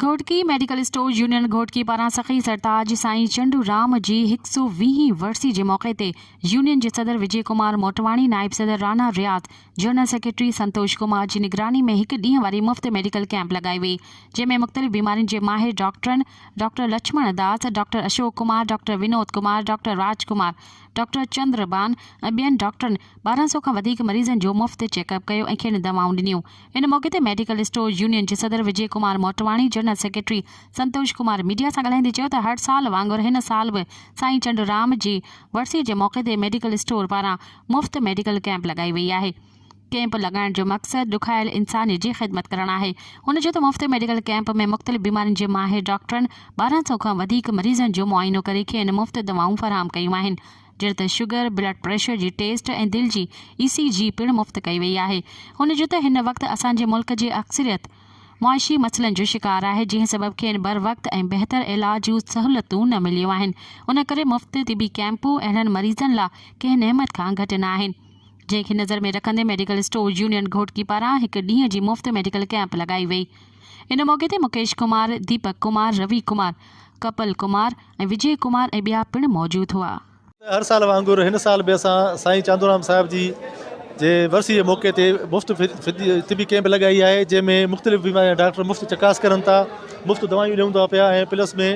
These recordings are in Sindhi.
Ghotki medical store union Ghotki پاران سخي سرتاج سائين چنڊو رام جي هڪ سو ويهين ورسي جي موقعي تي يونين جي صدر وجي ڪمار موٽواڻي نائب صدر رانا رياض جنرل سيڪريٽري سنتوش ڪمار جي نگراني ۾ هڪ ڏينهن واري مفت ميڊيڪل ڪيمپ لڳائي وئي جنهن ۾ مختلف بيمارين جي ماهر ڊاڪٽرن doctor Lachhman Das, doctor Ashok Kumar, doctor Vinod Kumar, doctor Raj Kumar, doctor Chandar Ban ۽ ٻين ڊاڪٽرن ٻارهن سؤ کان وڌيڪ مريضن جو مفت چيڪ اپ ڪيو ۽ کين دواؤن ڏنيون. ان موقعي تي ميڊيڪل اسٽور يونين جي صدر Vijay Kumar Motwani, general secretary Santosh Kumar media سان ڳالهائيندي چيو ته هر سال وانگر هن سال به سائين چنڊرام جي ورسيء جي موقعي تي ميڊيڪل اسٽور پاران مفت ميڊيڪل ڪيمپ لڳائي وئي آهي. ڪيمپ لڳائڻ جو مقصد ڏکايل انسان جي خدمت ڪرڻ آهي. هن چيو ته مفت ميڊيڪل ڪيمپ ۾ مختلف بيمارين جي ماهر ڊاڪٽرن ٻارهن سؤ کان وڌيڪ مريضن جو معائنو ڪري کين مفت دوائون فراهم ڪيون آهن جهڙ ته شگر، بلڊ پريشر جي ٽيسٽ ۽ دل جي اي سي جي پڻ مفت ڪئي وئي آهي. هن چيو ته هن وقت اسان جي ملڪ جي اڪثريت معاشي مسئلن جو شڪار آهي جنهن سبب کين بروقت ۽ بهتر علاج جون سهولتون نه مليون آهن ان ڪري مفت طبي ڪيمپون اهڙن مريضن لا ڪنهن نعمت کان گهٽ نه آهن. جنهن کي نظر ۾ رکندي ميڊيڪل اسٽور يونين گهوٽڪي پاران هڪ ڏينهن جي مفت ميڊيڪل ڪئمپ لڳائي وئي. ان موقعي تي مڪيش ڪمار، ديپڪ ڪمار، روي ڪمار، ڪپل ڪمار ۽ وجي ڪمار ۽ ٻيا پڻ موجود هئا. هر سال وانگر هن سال به اسان سائين چاندورام صاحب جي جي ورسي جي موقعي تي مفت طبي ڪئمپ لڳائي آهي جنهن ۾ مختلف بيمارين جا ڊاڪٽر مفت چڪاس ڪرن ٿا مفت دوائيون ڏيون ٿا پيا ۽ پلس ۾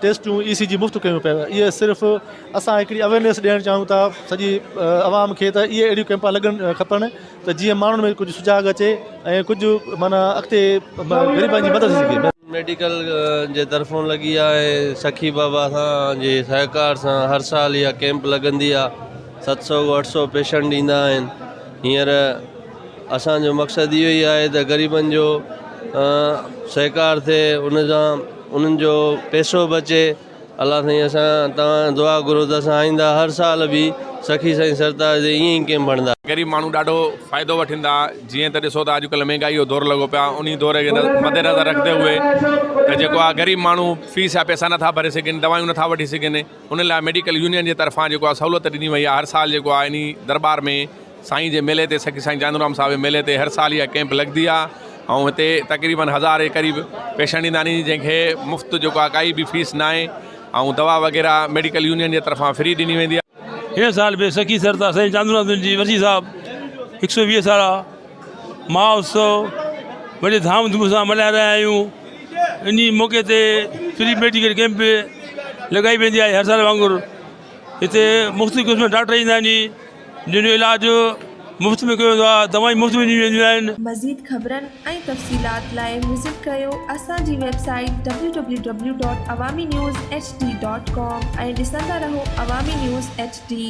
ٽيسٽون اي سي جي مفت ڪيون پيون ويون اهي صرف اسان هڪڙي اويرنيس ڏيڻ چاهيون ٿا سڄي عوام کي ته اهي اهڙيون ڪئمپا لڳڻ کپن ته جيئن ماڻهن ۾ ڪجهه سجاڳ اچي ۽ ڪجهه معنيٰ اڳتي غريبن جي مدد ٿي سگهي. ميڊيڪل جي طرفون لڳي آ ۽ سخي بابا سان جي سهڪار سان هر سال اها ڪئمپ لڳندي آ ست سئو اٺ سئو پيشنٽ ايندا آهن هينئر اسان جو مقصد اهو ئي آهي ته غريبن جو سهڪار ٿئي ان سان انهن جو پيسو به اچي الله سائين اسان توهان دعا گهرو ته اسان آئنده هر سال به سخي سائين سرتاج جي ائين ئي ڪيمپ هڻدا. غريب ماڻهو ڏاڍو فائدو وٺندا جيئن ته ڏسو ته اڄڪلهه مهنگائي جو دور لڳو پيو آهي انهي دور کي مد نظر رکندي هئي ته جيڪو آهي غريب ماڻهو فيس جا پيسا نٿا ڀري سگهن دوائيون نٿا وٺي سگهن ان لاء ميڊيڪل يونين جي طرفان جيڪو آ سهولت ڏني وئي آ هر سال جيڪو آ انهي درٻار ۾ سائين جي ميلي تي سڪي سائين چاندورام صاحب جي ميلي تي هر سال اها ڪيمپ لڳدي آ ۽ هتي تقريبن هزار جي قريب پيشنٽ ايندا آهن جنهن کي مفت جيڪو آ ڪائي به فيس ناهي ۽ دوا وغيره ميڊيڪل يونين جي طرفان فري ڏني ويندي آ. هن سال به سخي سردار سائين چاندورام دل جي ورسي صاحب هڪ سو ويهه سالا. مھوتسو وڏي ڌام ڌوم سان ملھائي رھيا آھيون ان جي موقعي تي فري ميڊيڪل ڪيمپ به لڳائي ويندي آھي ھر سال وانگر ھتي مختلف قسم جا ڊاڪٽر ايندا آھن جن جو علاج مفت ۾ ڪيو ويندو آھي دوائون مفت ۾ ڏنيون وينديون آھن. مزيد خبرن ۽ تفصيلات لاء وزٽ ڪريو اسان جي ويب سائيٽ www.awaminews.hd.com ۽ ڏسندا رھو عوامي نيوز ايڇ ڊي.